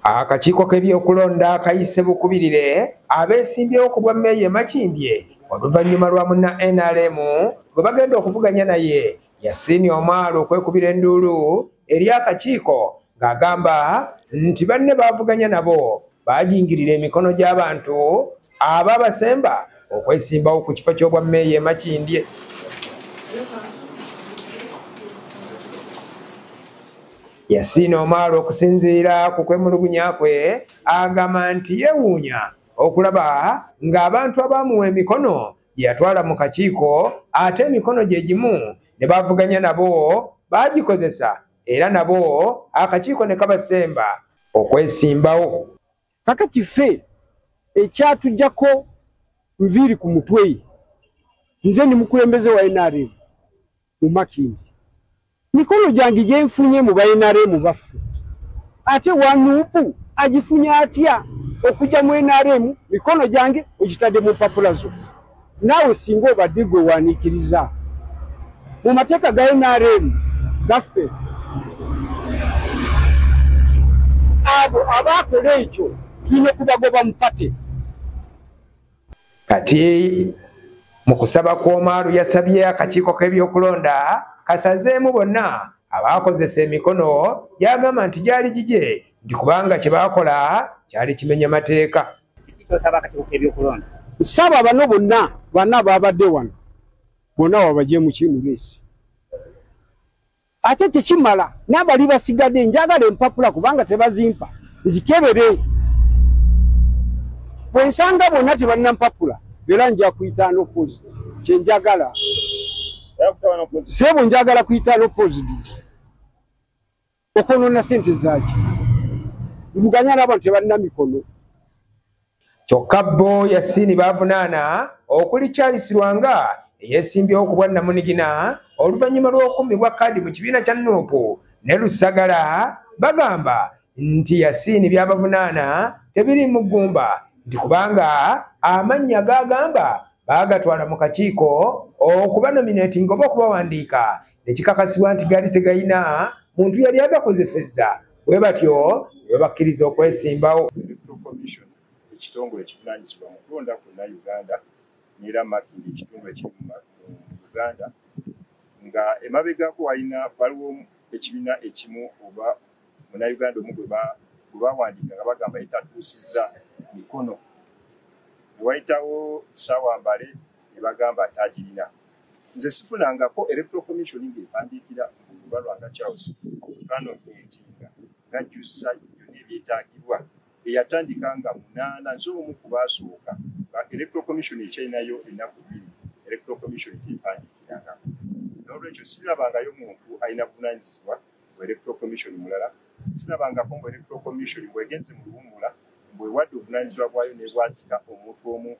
akakiiko k'ebyokulonda kayise bukubirire abeesimbyewo ku bwa meeya e makindye oluvannyuma lwa munna nrm gwe bagenda okuvuganya naye Yasiini Omar okwekubira enduulu eri akakiiko ng'agamba nti banne baavuganya nabo baajingirira emikono gy'abantu aba basemba okwesimbawo ku kifo ky'obwammeeya e Makindye. Yasiini Omar okusinziira ku kwemulugunya kwe agamba nti yeewuunya okulaba ng'abantu abaamuwa emikono gye yatwala mu kakiiko ate emikono gye gimu ne bavuganya nabo baagikozesa era nabo akakiiko ne kabasemba okwesimbawo kakati ffe ekyatujjako nviiri ku mutwe nze ndi mukulembeze wa nrm mu makindi mikono gyange gyenfunye mu banrm baffe ate wanupu agifunye atya okujja mu nrm mikono gyange ogitadde mu mpapula zo naawe singa obadde gwe wanikiriza mu mateeka ga nrm gaffe abo abaakola ekyo tulina okubagoba mu pate kati mu kusaba kw'omaalu yasabye akakiiko k'ebyokulonda kasazeemu bonna abaakozesa emikono gyagamba nti gyali gigye nti kubanga kye baakola kyali kimenya mateeka saba bano bonna bana baabadde wano bonna wabagye mukimuleesi ate tekimala n'abali basigade njagala empapula kubanga tebazimpa nzikebere bwe nsanga bonna tebalina mpapula era nja kuyita nopozi kyenjagala sebo njagala kuyita nopozi di okonona sente zaki nvuganya n'abantu tebalina mikono kyokka bbo yasiini baavunaana okuli charles lwanga eyeesimbyewo ku bwannamunigina oluvannyuma lw'okummibwa kaadi mu kibiina kya nuupu ne lusagala bagamba nti yasiini byabavunaana tebiri mu ggumba nti kubanga amannya gaagamba baagatwala mu kakiiko okubanominatinga oba okubawandiika nekikakasibwa nti gaali tegalina muntu yali agakozesezza bwe batyo webakkiriza okwesimbawo ekitongole ekivunanyizibwa mu kulonda kwonna uganda neera making ekitongole ekiri mu uganda nga emabegako walina waliwo ekibiina ekimu oba munauganda omu gwe bawandiika nga bagamba etatuusizza mikono newayitawo saawa mbale ne bagamba nti agirina nze sifunangako electoral commission ng'empandiikira oluba lwanga charles kanonentinga ngajjuzza byonna ebyetaagibwa eyatandika nga munaana nze omu ku baasooka electoral commission ekyalinayo ennaku bbiri electoral commission gyempandiikirangako n'olwekyo sirabangayo muntu alina buvunanyizibwa mu electoral commission mulala sirabangako mu electoral commission bwegenze mu luwumula mbwewadde obuvunanyizibwa bwayo nebwazika omuntu omu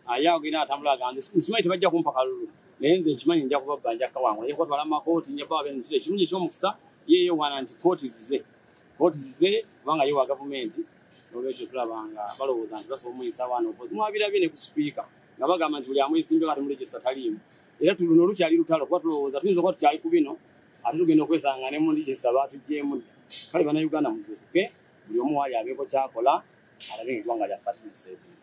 ayagina atambula aganze nkimanyi tebajja kumpa kalulu naye nze nkimanyi nja kubabba nja kawangula nja kubatwala mu makooti nja baba benu kiri ekirungi eky'omukisa yeeyo wana nti kooti zize kooti zize kubanga ye wa gavumenti nolwekyo tulaba nga balowooza nti basobola omuyisa abaana okozi mwabirabye ne ku sipiika nga bagamba nti buli amuyisimbyo kati mulegisa taliimu era tuluno lukyali lutalo kuba tulowooza tuyinza okuba tukyali ku bino ate tugenda okwesanga ne mu legisa baatuggyemu dda kale banauganda muzuukuke buli omu waali abeeko kyakola alabe nga eggwanga lyaffe atumuseebii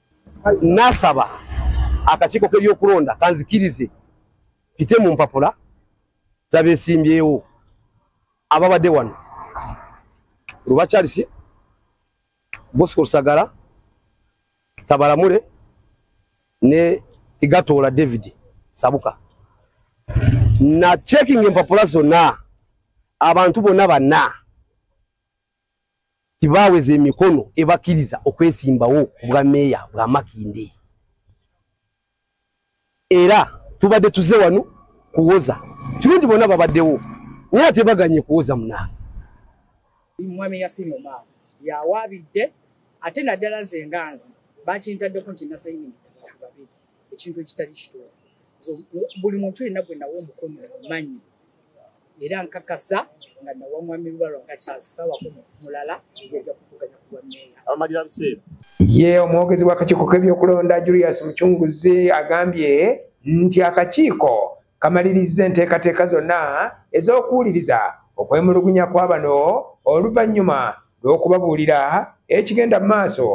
nasaba akakiiko k'ebyokulonda kanzikirize pite mu mpapula zabesimbyewo ababadde wano luba charles bosco lusagala tabalamule ne igatoola david sabuka na checking empapula zonna abantu bonna banna tibaaweza emikono ebakkiriza okwesimbawo ku bwa meeya bwa makindee era tubadde tuze wano kuwoza kirungi bona babaddewo naye ate baganye kuwoza munange mwami yasini omar yawabidde ate naddala nze enganzi bakintaddeko nti nasayini abantu babiri ekintu ekitali kituufu buli muntu yenna gwe nawo omukono manyi era nkakasa nga nawa mwami lubalwa nga kyasawa mulala yajja kutuganya kuwa meeya amalira biseera ye omwogezi w'akakiiko k'ebyokulonda julius mucunguzi agambye nti akakiiko kamalirizza enteekateeka zonna ez'okuwuliriza okwemulugunya kwa bano oluvannyuma lw'okubabuulira ekigenda mu maaso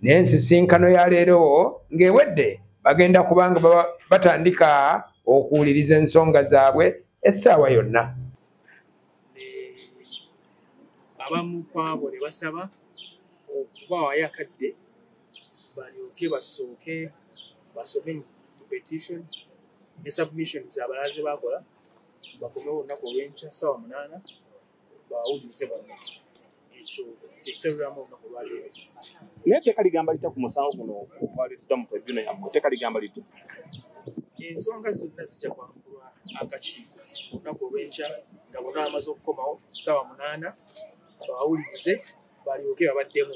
n'ensisinkano ya leero ng'ewedde bagenda kubanga batandika okuwuliriza ensonga zaabwe essaawa yonna abamu kwabo ne basaba okubaawayo akadde balyoke basooke basome mu petition ne submission zabalaaze bakola bakomewo olunaku olwenkya saawa munaana bawulize bonna ekyo ekisabiramu olunaku lwaleero naye teka ligamba litya ku musango guno ogwaleetedwa mu tribuna yammwe teka ligamba litya ensonga zonna zijja kwankulwa akakiiko olunaku olw'enkya nga bona amaze okukomawo ssaawa munaana bawulirize balyoke babaddemu